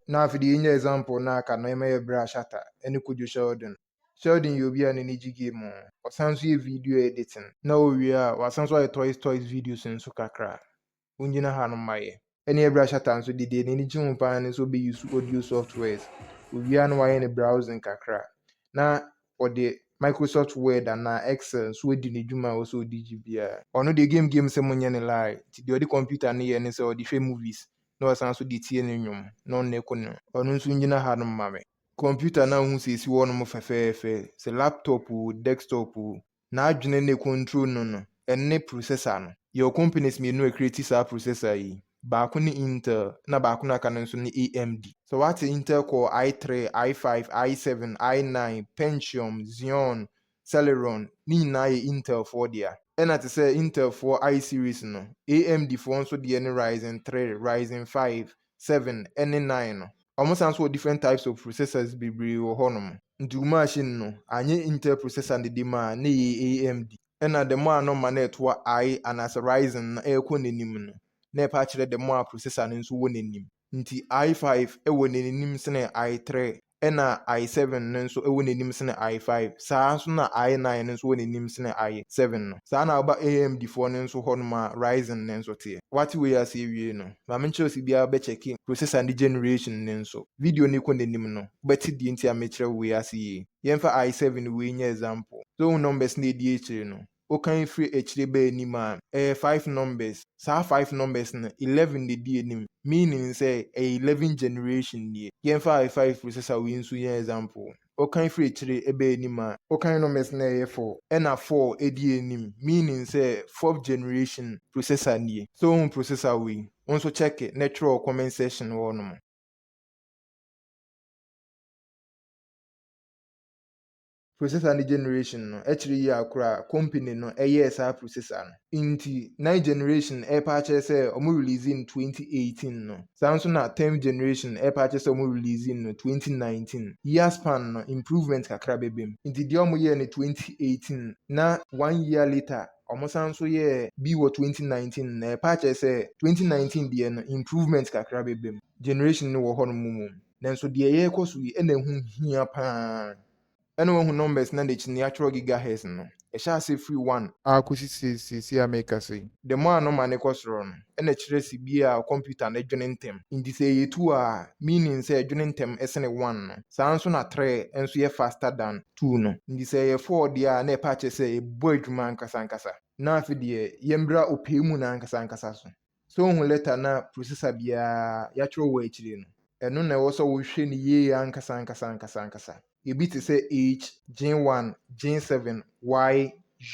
Na afei de yenya example no a aka no, ɛma yɛbrɛ a Shatta ne Kojo Sheldon. Sheldon yɛ obi a n'ani gye game ho. Ɔsan nso yɛ video editing. Na owie a, wasan nso ayɛ toys toys videos nso kakra. Wongyina ha nom ma yɛ. Ɛne ɛbrɛ a Shatta nso de deɛ n'ani gye ho paa ne sɛ ɔbɛ use audio softwares. Owie a na wayɛ ne browsing kakra. Na ɔde Microsoft Word anaa Excel nso adi ne dwuma a ɛwɔ sɛ ɔde gye biara. Ɔno deɛ game game sɛ monyɛ no lie, nti deɛ ɔde computer no yɛ ne sɛ ɔde hwɛ movies na ɔsan nso de tie ne nnwom na ɔnnɛ ko no. Ɔno nso ngyina hanom ma me. Computer no a wohu sɛ ɛsi hɔnom fɛfɛɛfɛ, sɛ laptop oo, desktop oo, n'adwene ne control no no ne processor no. Yɛwɔ companies mmienu a ɛcreate saa processor yi, baako ne Intel na baako no a aka no nso ne AMD. Sɛ woate Intel Core I three, I five, I seven, I nine, Pentium, Xeon, Celeron ne nyinaa yɛ Intel foɔ dea. Ɛna te sɛ Intel foɔ I series no, AMD foɔ nso deɛ ne Ryzen three, Ryzen five, seven ne nine no. Ɔmo san so wɔ different types of processors bebree wɔ hɔ nom. Nti wo machine no anyɛ Intel processor ne de maa na ɛyɛ AMD. Ɛna the more a na ɔma no ɛtoa I anaasɛ Ryzen no ɛɛkɔ n'anim no na ɛpɛ akyerɛ the more a processor no nso wɔ n'anim. Nti I five ɛwɔ n'anim sene I three. ɛna I seven no nso wɔ n'anim sene I five, saa ara nso na I nine no nso wɔ n'anim sene I seven no. Saa na woba AMD foɔ no nso hɔ nom a Ryzen no nso teɛ. Woate wei ase awie no, ma menkyerɛ wo sɛ biara bɛkyɛke processor ne generation no nso. Video no rekɔ n'anim no, wobɛte deɛ nti a mekyerɛ wo wei ase yie. Yɛmfa I seven wei nyɛ example. So wohu numbers no a ɛdi akyire no? wokan firi akyire ba anim a, ɛyɛ five numbers. Saa five numbers no, eleven na ɛdi anim, meaning sɛ ɛyɛ eleven generation nie. Yɛmfa I five firi sesa wei nso nyɛ example. Wokan firi akyire ba anim a, wokan numbers no a ɛyɛ four, ɛna four di anim, meaning sɛ fourth generation processor nie. Sɛ wohu processor wei, wo nso check na twerɛ wɔ comment section hɔ nom. Processor ne generation no kyerɛ yie a koraa a company no yɛɛ saa processor no. Nti ninth generation ɛɛpa akyerɛ sɛ ɔmo release no twenty eighteen no, saa nso na tenth generation ɛɛpa akyerɛ sɛ ɔmo release no twenty nineteen. Year span no improvement kakra bɛba mu. Nti deɛ ɔmo yɛɛ no twenty eighteen na one year later ɔmo san nso yɛɛ bi wɔ twenty nineteen no ɛɛpa akyerɛ sɛ twenty nineteen deɛ no improvement kakra bɛba mu. Generation no wɔ hɔ nom mmom. Nanso deɛ yɛrekɔ so yi na ɛho hia pa ara. Ɛna woahu numbers no n'akyi no yɛatwerɛ gigahertz no. Ɛhyɛ aseɛ firi one. A kɔsi seesei a merekasa yi. The more a nɔma no kɔ soro no, ɛna kyerɛ se bi a kɔmputa no dwene ntɛm. Nti sɛ ɛyɛ two a, meaning sɛ ɛdwene ntɛm sene one no. Saa ara nso na three nso yɛ faster than two no. Nti sɛ ɛyɛ four deɛ a na ɛpɛ akyerɛ sɛ ɛbɔ adwuma ankasa ankasa. Na afe deɛ yɛmmra ɔpɛɛ mu no ankasa ankasa so. Sɛ wohu lɛta no a prosesa biara yɛakyerɛw hɔ akyiri no, ɛno na ɛwɔ sɛ wohwɛ no yiye ankasa ankasa ankasa ankasa. Ebi te sɛ H, Gene 1, Gene 7, Y,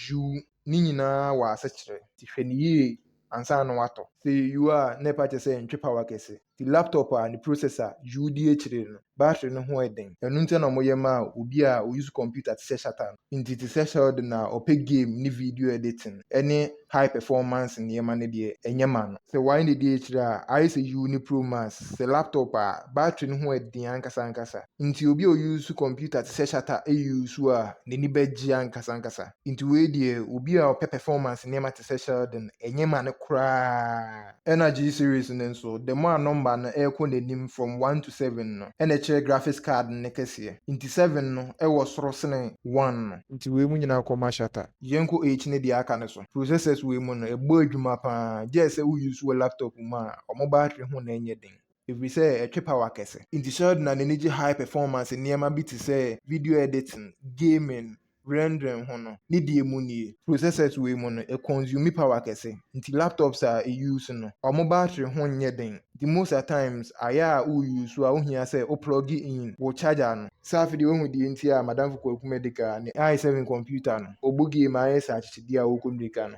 U, ne nyinaa wɔ asekyerɛ, nti hwɛ no yiye ansa na woatɔ. Sɛ ɛyɛ U a, na ɛpa kyerɛ sɛ ɛntwe pawa kɛse. Ntsi laptop a ne processor yuu dzi ekyir no, battery no ho yɛ dzen. Ɔno ntsi na wɔyɛ maa obi a ouse computer tse sɛ Shatta no. Ntsi tse sɛ Sheldon a ɔpɛ game ne video editing ne high performance ndzɛmba no deɛ, nnyɛ ma no. Sɛ wɔayɛ no dzi ekyir a, ayɛ sɛ yuu ne Pro Max sɛ laptop a battery no ho yɛ dzen ankasa ankasa. Ntsi obi a ouse computer tse sɛ Shatta yuu so a, n'enyi bɛgye ankasa ankasa. Ntsi wei deɛ, obi a ɔpɛ performance ndzɛmba tse sɛ Sheldon, nnyɛ ma no koraa. Ɛna G-Series no nso, the more a nɔmba no rekɔ n'enyim from one to seven no, ɛna ɛkyerɛ graphics card no ne kɛseɛ. Ntsi seven no wɔ soro sene one no. Ntsi wei mu nyina kɔ ma shatter. Yɛnkɔ H ne deɛ aka no so. Processors wei mu no, ɛbɔ edwuma paa, gyɛɛ sɛ wo use wo laptop mu a, ɔmo battery ho na ɛnyɛ den. Efirisɛ ɛtwe power kɛse. Ntsi Sheldon na n'ani gye high performance nneɛma bi te sɛ video editing, gaming, rendering ho no, ne deɛ mu nie. Processors wei mu no, ɛconsume power kɛse, nti laptops a e use no, wɔn battery ho nyɛ den, nti most a times ayɛ a wo use a wo hia sɛ wo plug in wo charger no. Sɛ afe deɛ wahu deɛ nti a Madamfo Kwaku Medika ne i7 computer no, ɔbɔ game a ayɛ sɛ akyekyedeɛ a ɔrekɔ mmirika no.